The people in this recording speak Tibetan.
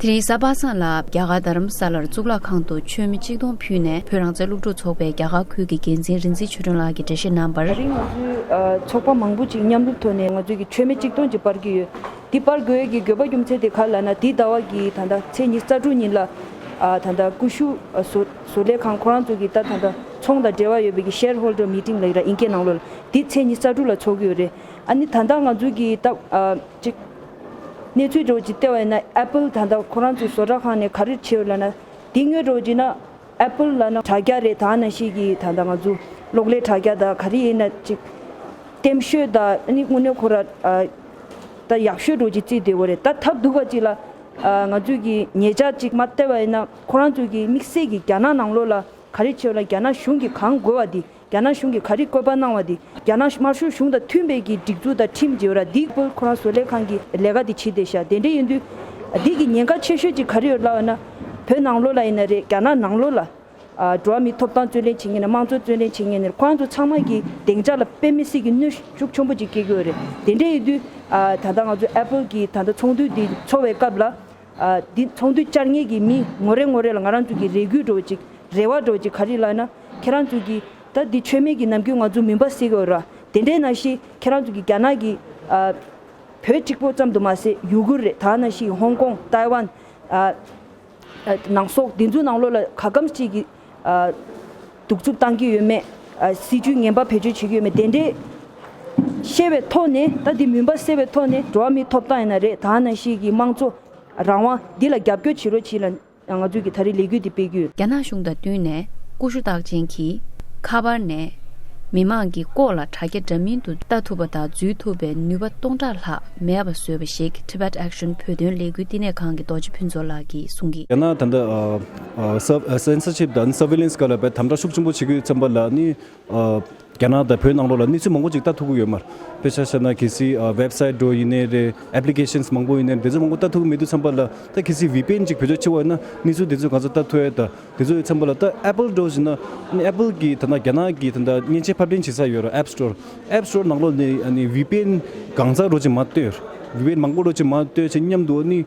དེ་རིང་གཟའ་པ་སངས་ལ་རྒྱ་གར་རྡ་རམ་ས་ལར་གཙུག་ལག་ཁང་དུ་མཆོད་མེ་གཅིག་སྟོང་ཕུལ་ནས་བོད་རང་བཙན་སློབ་ཕྲུག་ཚོགས་པའི་རྒྱ་གར་ཁུལ་གྱི་འགན་འཛིན་རིན་ཚེ་ཆོས་སྒྲོན་ལགས་ཀྱིས་འགྲེལ་བཤད་གནང་བར། དེ་རིང་ང་ཚོའི་ཚོགས་པ་མང་པོ་ཅིག་མཉམ་རུབ་ཐོག་ནས་ང་ཚོའི་མཆོད་མེ་གཅིག་སྟོང་ཅིག་སྤར་གྱི་ཡོད། འདི་སྤར་དགོས་ཀྱི་དགོས་པ་རྒྱུ་མཚན་དེ་ག་ལ་ན་དེའི་ཟླ་བ་གི་ད་ལྟ་ཚེས་ཉི་རྩ་དྲུག་ཉིན་ལ། ད་ལྟ་ཀུ་ཤུ་བཟོ་ལས་ཁང་ཁོ་རང་ཚོ་གི་ད་ལྟ་ཚོང་དང་འབྲེལ་བ་ཡོད་པའི་གི Share Holder Meeting ལ་ཡིན་ཀྱི་ནང་ལོ་ལ་འདི་ཚེས་ཉི་རྩ་དྲུག་ལ་ཚོགས་གི་ཡོད་རེད། ཨ་ནི་ད་ལྟ་ང་ཚོའི་གི་ད། གནས་ཚུལ་སྒྲོག་ཅིག་ལྟེ་བ་ཡིན་ན Apple ད་ལྟ་ཁོ་རང་ཚོའི་བཟོ་གྲྭ་ཁང་ནས་ག་རེ་བྱེད་ལ་ན་དེ་དངོས་སྒྲོག་ཅིག་ན Apple ལ་ན་དྲ་རྒྱ་རེད་ད་ན་ཤེས་ཀྱི་ད་ལྟ་ང་ཚོ་གློག་ཀླད་དྲ་རྒྱ་དང་ག་རེ་ཡིན་ན་ཅིག་ལྟེམ་ཤོད་ད་ནི་དངོས་གནས་ཁོ་ར་ད་ཡག་ཤོད་སྒྲོག་ཅིག་རྩིས་བདེ་བོ་རེད་ད་ཐབས་སྡུག་བ་ཅིག་ལ་ང་ཚོས་ཀྱི་ངེད་ཅག་ཅིག་མ་ལྟེ་བ་ཡིན་ན་ཁོ་རང་ཚོས་ཀྱི་དམིགས་བསལ་གྱི་རྒྱ་ནག་ནང་ལོག་ལ་ག་རེ་བྱེད་ལ་རྒྱ་ནག་གཞུང་གིས་གང་དགོས་བ་དེ། རྒྱ་ནག་གཞུང་གིས་ག་རེ་བཀོད་པ་གནང་བ་དེ་རྒྱ་ནག་དམར་ཤོག་གཞུང་དང་མཐུན་པའི་གི་སྒྲིག་འཛུགས་དང་ཁྲིམས་བརྗེ་བ་ར་འདིས་བཀོད་ཁོ་རང་བཟོ་ལས་ཁང་གི་ལས་ཀ་དེ་བྱེད་བདེ་ཤག་དེ་འདྲས་ཡིན་དུས། འདིས་གི་ཉེན་ཁ་ཆེ་ཤོས་ཅིག་ག་རེ་ཡོད་ལབ་ཨ་ན། བོད་ནང་ལོ་ལ་ཡིན་ན་རེད་རྒྱ་ནག་ནང་ལོ་ལ། འགྲོ་བ་མིའི་ཐོབ་ཐང་རྩོད་ལེན་བྱེད་ངེས་ནས་དམངས་གཙོ་རྩོད་ལེན་བྱེད་ངེས་ནས་ཁོ་རང་ཚོ་ཚང་མ་གི་གདེང་འཇགས་ལ་དཔེ་མི་སྲིད་གི་གནོད་ཤུགས་ཆོན་པོ་ཅིག་སྐྱེལ་གི་ཡོད་རེད་དེ་འདྲས་ཡིན་དུས། ད་ལྟ་ང་ཚོ Apple གི་ད་ལྟ་ཚོགས་འདུ་འདི་འཚོགས་བའི་སྐབས་ལ། འདི་ཚོང་དུས་བཅར་ངེས་ཀྱི་མི་ངོ་རེ་ངོ་རེ་ལ་ང་རང་ཚོ་གི་རེ་སྒུག་འགྲོ་བ་ཅིག་རེ་བ་འགྲོ་བ་ཅིག་ག་རེ་ལགས་ན་ཁྱེད་རང་ཚོ་གི་ད་འདི་ཆོས་མེད་ཀྱི་ནམ་རྒྱུན་ང་ཚོ་མུན་པ་སེལ་གི་འོད་ར་དེ་འདྲས་ན་ཞིག་ཁྱེད་རང་ཚོ་གི་རྒྱ་ནག་གི་བོད་གཅིག་པོ་ཙམ་དུ་མ་ཟད་ཡུ་གུར་རེད་ད་ན་ཞིག་ཧོང་ཀོང་ཏཱའི་ཝན། ནང་སོག་འདི་ཚོ་ནང་ལོག་ལ་ག་གམ་ཅིག་གི། གདུག་རྩུབ་བཏང་གི་ཡོད་མེད། སྲིད་ཇུས་ངན་པ་བེད་སྤྱོད་བྱེད་ཀྱི་ཡོད་མེད་དེ་འདྲའི་ཤེས་པའི་ཐོག་ནས་ད་དེ་མུན་པ་སེལ་བའི་ཐོག་ནས་འགྲོ་བ་མིའི་ཐོབ་ཐང་ཡིན་ན་རེད་ད་ནང་བཞིན་གྱི་དམངས་གཙོ་རང་དབང་འདི་ལ་རྒྱབ་སྐྱོར་བྱེད་རོགས་གྱིས་ལ་ང་ཚོས་ཀྱི་ད་རེས་ལས་འགུལ་འདི་སྤེལ་རྒྱུ། རྒྱ་ནག་གཞུང་དང་བསྟུན་ནས་ཀུ་ཤུ་རྟགས་ཅན་གྱིས་ཁ་པར་ནས་མི་མང་གི་ལྐོག་ལ་དྲ་རྒྱ་འདྲ་མིན་དུ་ལྟ་ཐུབ་པ་དང་འཛུལ་ཐུབ་པའི་ནུས་པ་སྟོང་ཕྲག་ལྷག་མེད་པ་བཟོས་པ་ཞིག Tibet Action བོད་དོན་ལས་འགུལ་བསྟི་གནས་ཁང་གི་རྡོ་རྗེ་ཕུན་ཚོགས་ལགས་ཀྱིས་གསུངས། རྒྱ་ནག་ད་ལྟ། Censorship དང Surveillance སྐོར་ལ་དམ་དྲག་ཤུགས་ཆེན་པོ་བྱེད་དགོས་བསམ་པ་ལ་ནི། རྒྱ་ནག་དང་བོད་ནང་ལོགས་ལ་གནས་ཚུལ་མང་པོ་ཅིག་ལྟ་ཐུབ་ཀྱི་ཡོད་མ་རེད། དཔེ་ཆ་བཤད་ན་གལ་སྲིད Website འགྲོ་ཡིན་ནའི་རེད Applications མང་པོ་ཡིན་ནའི་རེད་དེ་ཚོ་མང་པོ་ལྟ་ཐུབ་ཀྱི་མེད་འདུག་བསམ་པ་ལ་ད་གལ་སྲིད VPN ཅིག་བོད་ཕྱོགས་ཕྱི་བ་ཡོད་ན་གནས་ཚུལ་དེ་ཚོ་གང་ས་ལྟ་ཐུབ་ཨེ་ད་དེ་ཚོ་ཡོད་བསམ་པ་ལ་ད Apple འགྲོ་བཞིན་ན Apple གྱི་ད་ནང་རྒྱ་ནག་གི་ད་ནང་མཉེན་ཆས་ཕབ་ལེན་བྱེད་ས་ཡོད་རེད App Store App Store ནང་ལོགས་ནས VPN གང་ས་རོ་ཅིག་མ་ལྟོས VPN མང་པོ་རོ་ཅིག་མ་ལྟོས་ཆེ་སྙམ་དུ་ནི།